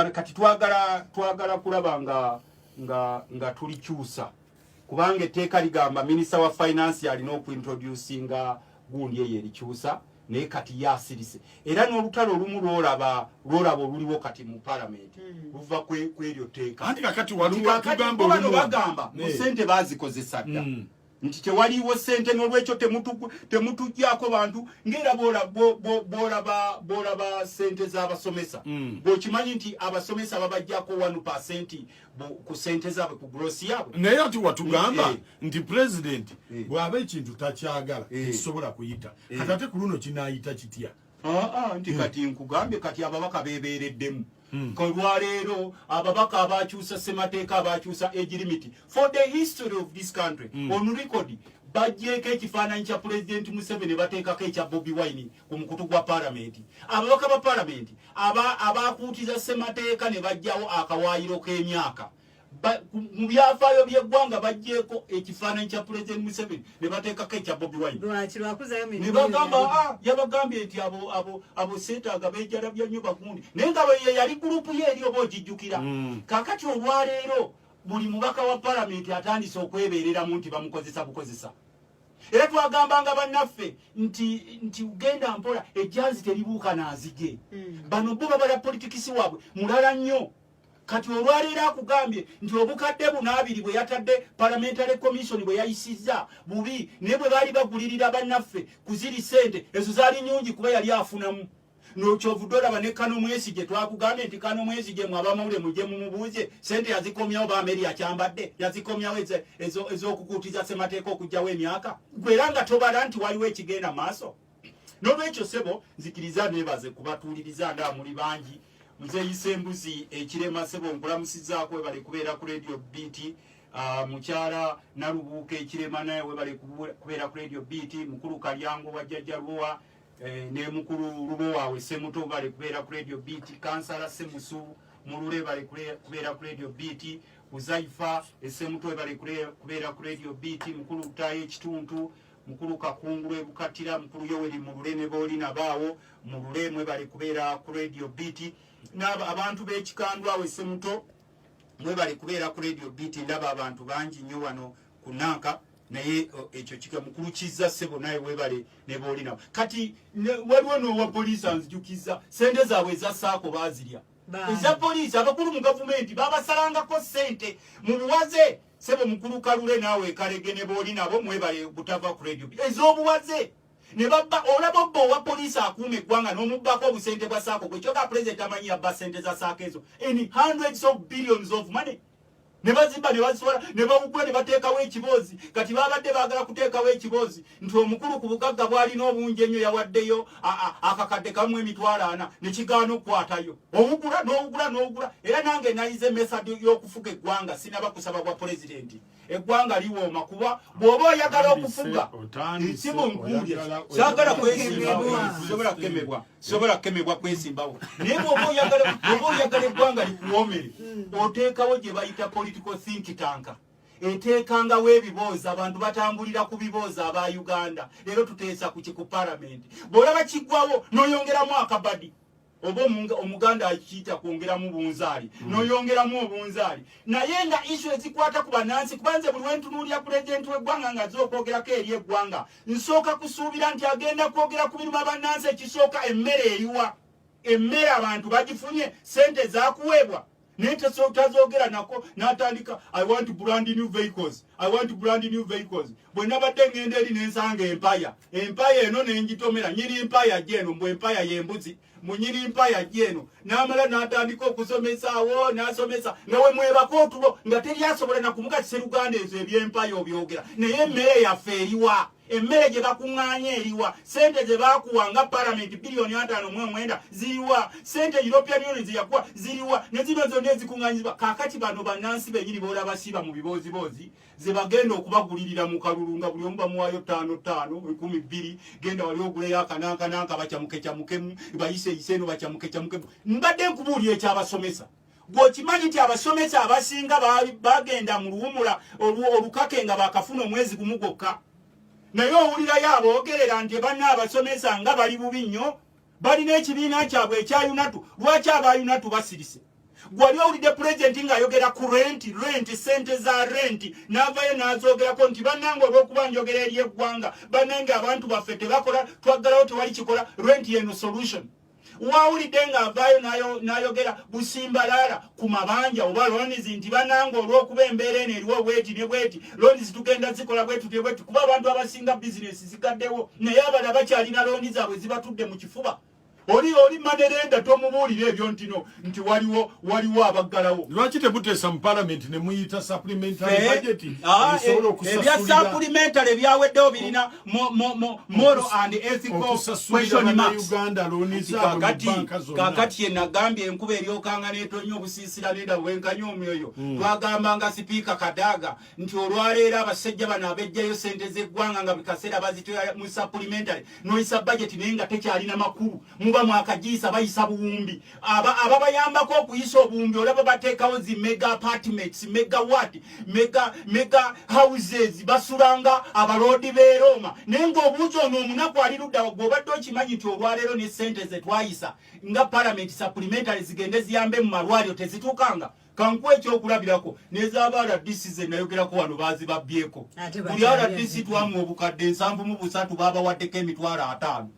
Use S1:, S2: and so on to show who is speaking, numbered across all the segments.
S1: kati twagala twagala kulaba nga nga nga tulikyusa kubanga etteeka ligamba minisita wa finance alina okuintroducinga gundi eyo erikyusa naye kati yasirise era n'olutalo olumu lwolaba lwolaba oluliwo kati mu palamenti hmm. luva kw'eryo tteeka anti kakati waliwo
S2: tugamba olumu bagamba mu sente
S1: bazikozesa dda hmm. nti tewaliwo sente nolwekyo temutujjako bantu ngaera bolaba sente zabasomesa mm. bwekimanyi nti abasomesa babajjako 1 pasenti ku sente zabwe ku grosi yabwe naye ati watugamba
S2: eh. nti president eh. bwaba ekintu takyagala eh. ekisobola kuyita katate ku luno kinayita kitya ah, ah, nti kati
S1: nkugambye kati ababaka bebeereddemu Hmm. olwaleero ababaka abakyusa ssemateeka abakyusa age limit for the history of this country mm. on record bajjeeko ekifaananyi kya pulezidenti museveni bateekako ekya bobi wine ku mukutu gwa palamenti ababaka ba palamenti abakuutiza ssemateeka ne bajjawo akawaayiro k'emyaka mu byafaayo by'eggwanga bagyeko ekifaananyi kya pulezidenti museveni ne bateekako ekya bobi wine ne bagamba a ah, yabagambye nti abo abo abo seetaaga beejalabya nnyo bagundi naye nga bweye yali gurupu ye eri oba ogijjukira mm. kakati olwaleero buli mubaka wa palamenti atandise okwebeereramu nti bamukozesa bukozesa era twagambanga bannaffe nti nti ugenda mpola ejjanzi teribuuka naazigye mm. bano bo babala politikisi waabwe mulala nnyo kati olwaleero akugambye nti obukadde buno abiri bwe yatadde parliamentary commission bwe yayisizza bubi naye bwe baali bagulirira bannaffe ku ziri ssente ezo zaali nyungi kuba yali afunamu nokyovudde olaba ne kano mwezi gye twakugambye nti kano mwezi gyemwe abamawule mugye mumubuuze sente yazikomyawo bameri yakyambadde yazikomyawo ez'okukuutiza ssemateeka okugyawo emyaka gwe era nga tobala nti waliwo ekigenda maaso nolwekyo sebo nzikiriza nebaze kubatuuliriza nga muli bangi nzeyisa embuzi ekirema sebo nkulamusizaako webale kubeera ku radio bt ah, mukyala nalubuuka ekirema naye webale kubeera ku radio bt mukulu kalyango wa jjajja lubowa eh, ne mukulu lubowa we semuto bale kubeera ku radio bt kansala semusu mulule bale kubeera ku radio bt uzaifa esemuto webale kubeera ku radio bt mukulu utayo ekituntu mukulu kakungulu ebukatira mukulu yoweri mulule ne booli nabaawo mulule mwebale kubeera ku radio beat naabo abantu b'ekikandwa awe semuto mwebale kubeera ku radio beat ndaba abantu bangi nnyo wano ku nanka naye ekyo kika mukulu kizza sebo naye webale ne booli nabo kati waliwo n'owa poliisi anzijukiza sente zaabwe eza saako baazirya eza poliisi abakulu mu gavumenti babasalangako sente mu buwaze sebo mukulu kalule naawe ekalege ne booli nabo mwebale butava ku radio ez'obuwaze ne babba olaba obba owa poliisi akuuma eggwanga n'omubbako obusente bwa saako gwe kyoka pulezidenti amanyi yabba sente za saako ezo in hundreds of billions of money ne bazimba ne bazisobola ne bawugula ne bateekawo ekiboozi kati babadde baagala kuteekawo ekiboozi nti omukulu ku bugagga bwalina obungi ennyo yawaddeyo akakadde kamu emitwalo ana ne kigaana okukwatayo owugula n'owugula n'owugula era nange nayize method y'okufuga eggwanga sinaba kusaba bwa pulezidenti eggwanga liwooma kuba bw'oba oyagala okufuga ekimu nkuulye kyagala kwesimbawo sobola kukemebwa sobola kukemebwa kwesimbawo naye bw'oba oyagala eggwanga likuwoomere hmm. oteekawo gye bayita political think tanka eteekangawo ebiboozi abantu batambulira ku biboozi aba uganda leero tuteesa ku kiku palamenti bw'olaba kiggwawo n'oyongeramu akabadi oba omuganda akiyita kwongeramu bunzaali hmm. n'oyongeramu obunzaali naye nga isu ezikwata ku banansi kuba nze buli wentunuulira pulezidenti w'eggwanga nga aze okwogerako eri eggwanga nsooka kusuubira nti agenda kwogera ku biruma banansi ekisooka emmere eriwa emmere abantu bagifunye sente zakuweebwa naye tazogera nako natandika i want brand new vehicles i want brand new vehicles bwe nabadde ngenda eri nensanga empaya empaya eno nenjitomera nyini empaya jeno mbu empaya yembuzi munyini empaya jeno namala natandika okusomesaawo nasomesa nga wemwebaka otulo nga teri asobola nakumukakisa eruganda ezo ebyempaya obyogera naye emmere yaffe eriwa emmere gye bakuŋŋaanya eriwa sente ze baakuwa nga palamenti biliyoni ataano mu omwenda ziriwa sente european union ze yakuwa ziriwa ne zino zonna ezikuŋŋanyizibwa kaakati bano bannansi bennyini boola basiiba mu bibooziboozi ze bagenda okubagulirira mu kalulu nga buli omu bamuwaayo ttaano ttaano ekumi bbiri genda wali oguleyo akanankananka bakyamukecamukemu bayiseyise eno bakyamukecamukemu mbadde nkubuulira ekyabasomesa gwokimanyi nti abasomesa abasinga bagenda mu luwumula olukake nga bakafuna omwezi gumu gwokka naye owulirayo aboogerera nti banna abasomesa nga bali bubi nnyo balina ekibiina kyabwe ekya yunatu lwaki aba yunatu basirise gwali owulidde pulezidenti ng'ayogera ku renti renti sente za renti n'avayo n'azoogerako nti bannange olw'okuba njogera eri eggwanga bannange abantu baffe tebakola twaggalawo tewali kikola renti yeno solution wawulidde nga avaayo n'ayogera busimbalaala ku mabanja oba lonizi nti bananga olw'okuba embeera eno eriwo bweti ne bweti lonizi tugenda zikola bwetutye bweti kuba abantu abasinga bizinesi zigaddewo naye abala bakyalina loni zaabwe zibatudde mu kifuba oli oli manerenda tomubuulira ebyo ntino nti waliwo waliwo abaggalawo lwaki temuteesa mu
S2: palamenti ne muyita saplimentaebyasapulimentale
S1: ah, eh, eh, ebyaweddewo birina moro and ethicalkakati yenagambye enkuba eryokanga netonya obusiisira nenda bwenkanya omwoyo hmm. twagamba nga sipiika kadaaga nti olwaleero abasajja bano abejjayo sente zeggwanga nga bikaseera bazitoya mu sapulimentale noyisa bajeti naye nga tekyalina makulu muba mwakagiyisa bayisa buwumbi ababayambako aba okuyisa obuwumbi olaba bateekawo zi mega apartments mega wat mega, mega houses basulanga abaloodi berooma naye ngaobuuzi ono omunaku ali luddawa gweobadde okimanyi nti olwaleero ne sente zetwayisa nga palamenti supplementary zigende ziyambe mu malwaliro tezituukanga kankuwa ekyokulabirako nezaaba rdc zenayogerako wano bazibabyeko buli rdc twamu obukadde ensanvu mu busatu babawaddeko emitwalo ataano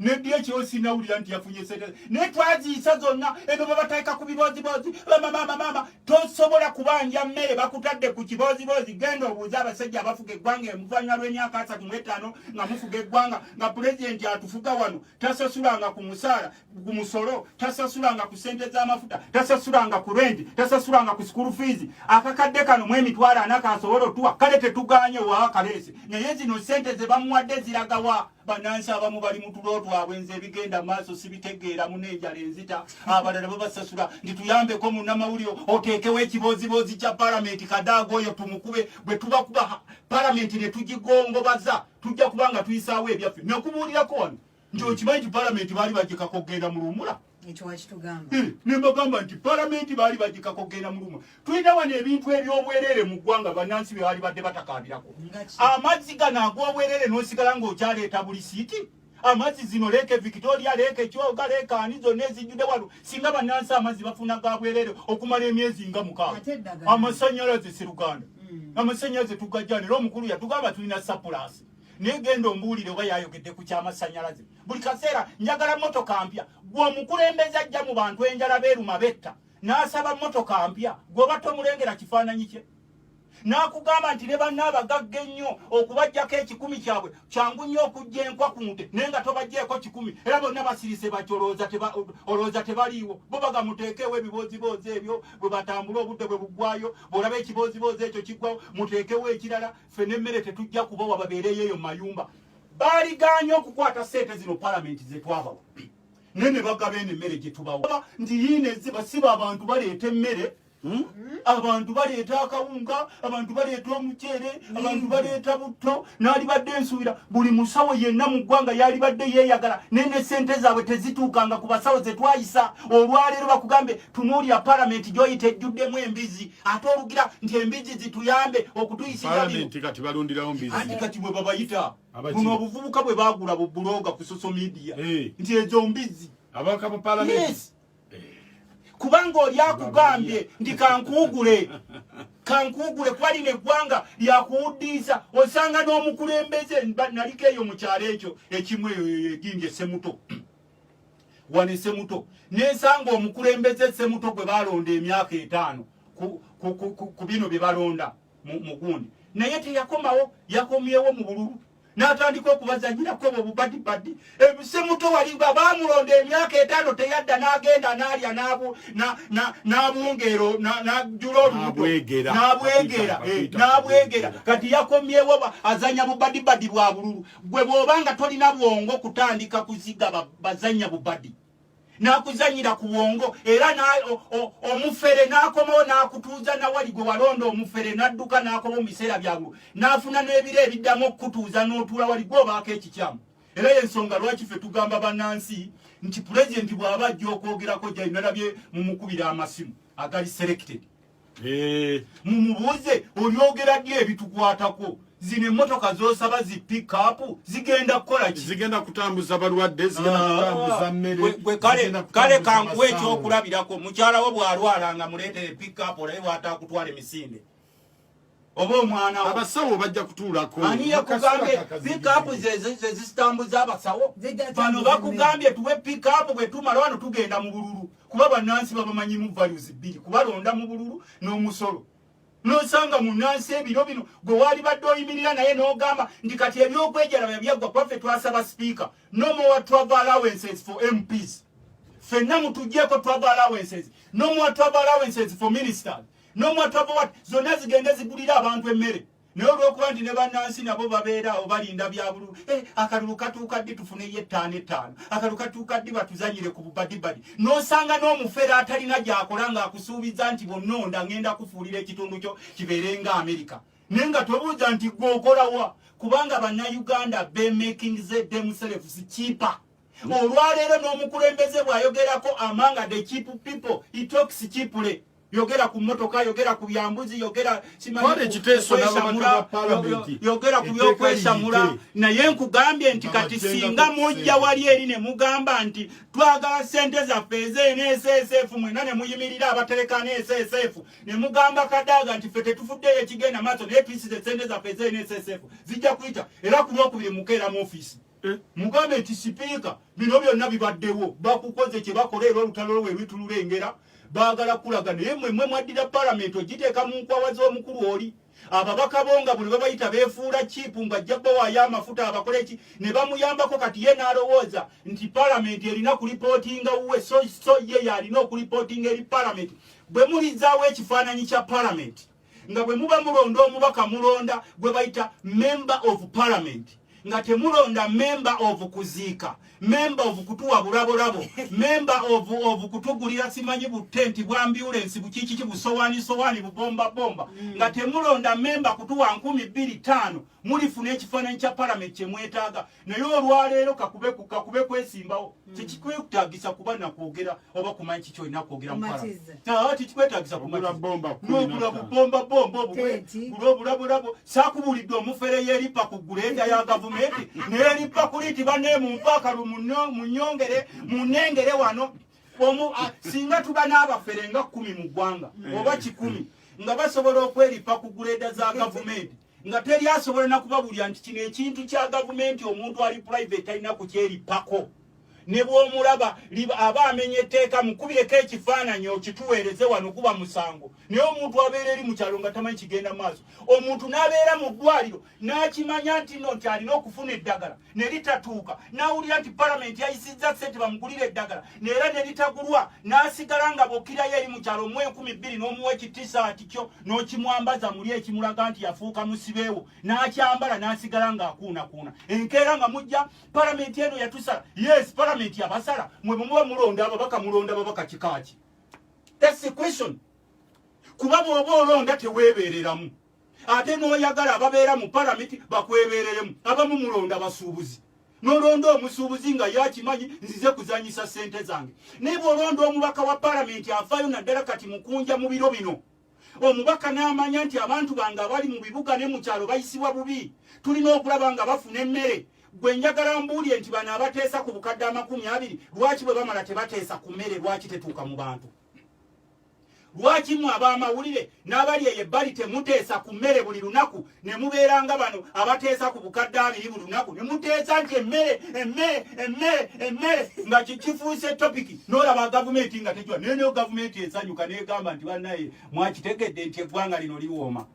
S1: nebyo ekyo sinawulira nti yafunye sente naye twaziyisa zonna ebyo babateeka ku bibooziboozi bamamamamama tosobola kubanja mmere bakutadde ku kibooziboozi genda obuuza abasajja abafuga eggwanga emuvanywa lw'emyaka asatu mu etaano nga mufuga eggwanga nga pulezidenti atufuga wano tasasulanga ku musaala ku musolo tasasulanga ku sente z'amafuta tasasulanga ku renti tasasulanga ku sikulu fiizi akakadde kano mu emitwalo ana kasobola otuwa kale tetuganye owawa kaleese naye zino sente ze bamuwadde ziragawa banansi abamu bali mu tulo twabwe nze ebigenda maaso sibitegeera muna enjala enzita abalala babasasula nti tuyambeko munamawulire oteekewo ekibooziboozi kya palamenti kadaaga oyo tumukube bwe tuba kuba palamenti ne tugigongobaza tujja kuba nga tuyisaawo ebyaffe nekubuulirako wano nti okimanyi nti palamenti baali bagikako okugenda mu luwumula ekyo wakitugamba eh, ne mbagamba nti palamenti baali bagikako genda muluma tulina wano ebintu ebyobwerere mu ggwanga bannansi bye baali badde batakaabirako amazzi gano ag'obwerere n'osigala ng'okyaleeta buli siiti amazzi zino leeke victoria leeke kyoga leeke ani zonna ezijjudde wano singa bannansi amazzi bafuna ga bwerere okumala emyezi nga mukaaga amasanyalaze seruganda hmm. amasanyalaze tugajjanira omukulu yatugamba tulina sapulasi naye genda ombuulire oba yayogedde ku kyamasanyalaze buli kaseera njagala motoka mpya gwe omukulembeze ajja mu bantu enjala beeruma betta n'asaba motoka mpya gweoba tomulengera kifaananyi kye n'akugamba nti ne banna abagagga ennyo okubajjako ekikumi kyabwe kyangu nnyo okujja enkwa ku nte naye nga tobajjeeko kikumi era bonna basirise bati olowooza tebaliiwo bo baga muteekeewo ebibooziboozi ebyo bwe batambula obudde bwe buggwayo bw'olaba ekibooziboozi ekyo kiggwawo muteekewo ekirala ffe n'emmere tetujja kubawa babeereyo eyo mu mayumba baaligaanye okukwata sente zino palamenti zetwabawa naye ne bagaba eno emmere gye tubawa nti yiina eziba siba abantu baleeta emmere hmm? abantu baleeta akawunga abantu baleeta omuceere abantu baleeta butto naalibadde ensuubira buli musawo yenna mu ggwanga yaalibadde yeeyagala naye ne sente zaabwe tezituukanga ku basawo ze twayisa olwaleero bakugambe tunuulira palamenti gyoyita ejjuddemu embizi ate olugira nti embizi zituyambe okutuyisiaanti kati balundirawo mbizi kati bwe babayita buno obuvubuka bwe bagula bu buloga ku social media eh. nti ezo mbizi abaka ba palamenti kubanga oli akugambye nti kankuugule kankuugule kuba lino eggwanga lyakuwuddiisa osanga n'omukulembeze naliko eyo mu kyalo ekyo ekimu eyo eginja esemuto wano esemuto nensanga omukulembeze esemuto gwe balonda emyaka etaano ku bino bye balonda mu gundi naye teyakomawo yakomyewo mu bululu n'atandika okubazanyirako obwo bubadibadi ebisemuto wali nga bamulonda emyaka etaano teyadda n'agenda n'alya n'abungeero n'ajula olubuto n'abwegera eh, n'abwegera kati yakomyewo azanya bubadibadi bwa bululu gwe bwoba nga tolina bwongo kutandika kuziga bazanya bubadi nakuzanyira ku bwongo era omufere nakomawo nakutuuza nawali gwe walonda omufere nadduka nakomawo mu biseera byabwe nafuna n'ebiro ebiddamu okukutuuza n'otuula wali gwe obaako ekikyamu era yensonga lwaki fe tugamba banansi nti pulezidenti bw'aba ajja okwogerako gyayinalabye mu mukubira amasimu agali selected Eh, mumubuuze olyogera ddi ebitukwatako zino emotoka zosaba zi pikapu zigenda kukola ki zigenda kutambuza
S2: balwadde ah, kale
S1: kankuwa ekyokulabirako mukyala wo bwalwala nga muleetere pikapu olaye bwatakutwala emisinde oba omwana wo abasawo bajja
S2: kutuulako ani yakugambye
S1: pikapu zezitambuza abasawo bano bakugambye tuwe pikapu bwe tumala wano tugenda mu bululu kuba bannansi babamanyimu values bbiri kubalonda mu bululu n'omusolo nosanga munansi ebiro bino gwe waali badde oyimirira naye n'ogamba nti kati ebyokwejalaba byaggwa kuba ffe twasaba sipiika no more travel allowances for mps fenna mutujjeeko travel allowances no more travel allowances for ministers nomwatu ava wati zonna zigende zigulire abantu emmere naye olwokuba nti ne bannansi nabo babeera awo balinda byabululu eh, akalulu katuuka ddi tufuneyo ettaano ettaano akalulu katuuka ddi batuzanyire ku bubadibadi n'osanga n'omufere atalina gyakola ng'akusuubiza nti bonnonda ngenda kufuulira ekitundu kyo kibeere nga amerika naye nga tobuuza nti gwe okolawa kubanga bannayuganda bemaking ze demselves kipa olwaleero n'omukulembeze bw'ayogerako amanga the chip people itox chipule yogera ku motoka yogera ku byambuzi yogera yogera ku byokwesamula naye nkugambye nti kati singa mujja wali eri ne mugamba nti twagala sente zaffe ezenesesf mwena ne muyimirira abatereka nesesf ne mugamba kadaaga nti fe tetufuddeyo ekigenda maaso naye tuisize sente zaffe ezenesesf zijja kuyita era ku lwokubiri mukeera mu ofiisi Eh, mugambe nti sipiika bino byonna bibaddewo bakukoze kye bakola era olutalo lwe lwitululengera baagala kulaga naye mwe mwe mwaddira palamenti ogiteeka mu nkwawa z'omukulu oli ababaka bo nga buli babayita beefuula kiipu nga ajja bawaayo amafuta abakola eki ne bamuyambako kati ye n'alowooza nti palamenti erina kulipootinga wuwe so ye yalina okulipootinga eri palamenti bwe mulizaawo ekifaananyi kya palamenti nga bwe muba mulonda omubaka mulonda gwe bayita member of parliament nga temulonda member of kuziika member of kutuwa bulabolabo member of of kutugulira simanyi butenti bwa ambulance bukikiki busowani sowani bubomba bomba mm. nga temulonda member kutuwa nkumi bbiri taano mulifuna ekifaananyi kya parliament kyemwetaaga naye olwaleero kakube kakube kwesimbawo hmm. tekikwetagisa kuba nakwogera oba kumanyi kiki olina kwogera tekikwetagisa kumanogula bubomba bomba obulabulabo sakubuulidde omufere yeripa ku gulenda ya gavumenti neripa kuli nti bane mumpaakalu munyongere munengere wano omu singa tuba n'abafere nga kumi mu ggwanga hmm. oba kikumi nga basobola okweripa ku guleda za gavumenti nga teri asobola nakubabulira nti kino ekintu kya gavumenti omuntu ali private talina kukyerippako ne bwomulaba aba amenya etteeka mukubireko ekifaananyi okituweereze wano kuba musango naye omuntu abeera eri mu kyalo nga tamanyi kigenda maaso omuntu n'abeera mu ddwaliro n'akimanya nti no nti alina okufuna eddagala ne litatuuka n'awulira nti palamenti yayisizza ssente bamugulira eddagala neera ne litagulwa n'asigala nga bokirayo eri mu kyalo mu enkumi bbiri n'omuwa ekitisaati kyo n'okimwambaza muli ekimulaga nti yafuuka musibeewo n'akyambala n'asigala ng'akuunakuuna enkeera nga mujja palamenti eno yatusala yes palamenti yabasala mwe bumuba mulonda ababaka mulonda babaka kikaaki thats the question kuba bw'oba olonda teweebeereramu ate n'oyagala ababeera mu palamenti bakwebereremu abamu mulonda basuubuzi nolonda omusuubuzi nga yakimanyi nzize kuzanyisa sente zange naye bwolonda omubaka wa palamenti afaayo naddala kati mukunja mu biro bino omubaka n'amanya nti abantu bange abali mu bibuga ne mu kyalo bayisibwa bubi tulina okulaba nga bafuna emmere gwe njagala mbuulire nti bano abateesa ku bukadde amakumi abiri lwaki bwe bamala tebateesa ku mmere lwaki tetuuka mu bantu lwaki mwe ab'amawulire n'abali eyo ebbali temuteesa ku mmere buli lunaku ne mubeera nga bano abateesa ku bukadde abiri buli lunaku ne muteesa nti emmere emmere emmere emmere nga kifuuse topiki n'olaba gavumenti nga tekiwa naye nayo gavumenti esanyuka n'egamba nti bannaye mwakitegedde nti eggwanga lino liwooma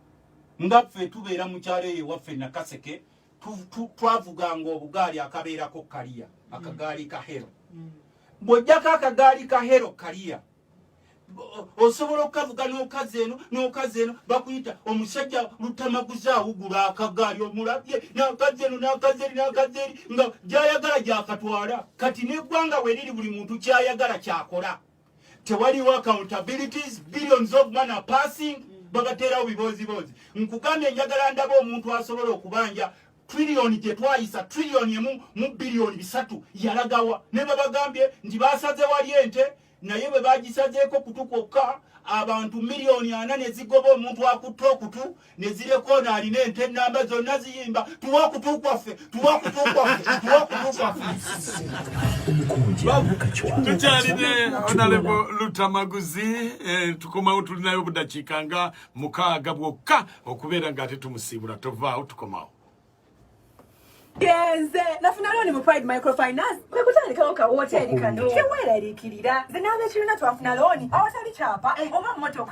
S1: nga ffe tubeera mu kyalo eyo ewaffe nakaseke twavuganga obugaali akabeerako kaliya akagaali ka hero mm. bw'ojjako akagaali ka hero kaliya osobola okukavuga n'okazi eno n'okazi eno bakuyita omusajja lutamaguzi awugula akagaali omulabye n'akazi eno n'akazi eri n'akazi eri nga gy'ayagala gyakatwala kati n'eggwanga weriri buli muntu ky'ayagala kyakola tewaliwo accountabilities billions of man are passing babateerawo bibooziboozi nkugambye njagala ndaba omuntu asobola okubanja trillion gye twayisa trillion emu mu billion bisatu yalagawa ne babagambye nti basaze wali ente naye bwe bagisazeeko kutu kwokka abantu miliyoni ana ne zigoba omuntu akutte okutu ne zirekoona alina ente ennamba zonna ziyimba tuwa okutu kwaffe tuwa okutu kwaffe tuwa okutu kwaffe
S2: tukyalina onalebo lutamaguzi eh, tukomawo tulinayo obudakiika nga mukaaga bwokka okubeera nga ate tumusiibula tovaawo tukomawo
S3: genze nafuna looni mu pride microfinance kwe kutandikawo ka wooteeri kano keweeraliikirira nze n'abekirina twafuna looni awatali kyapa eh, oba mmotoka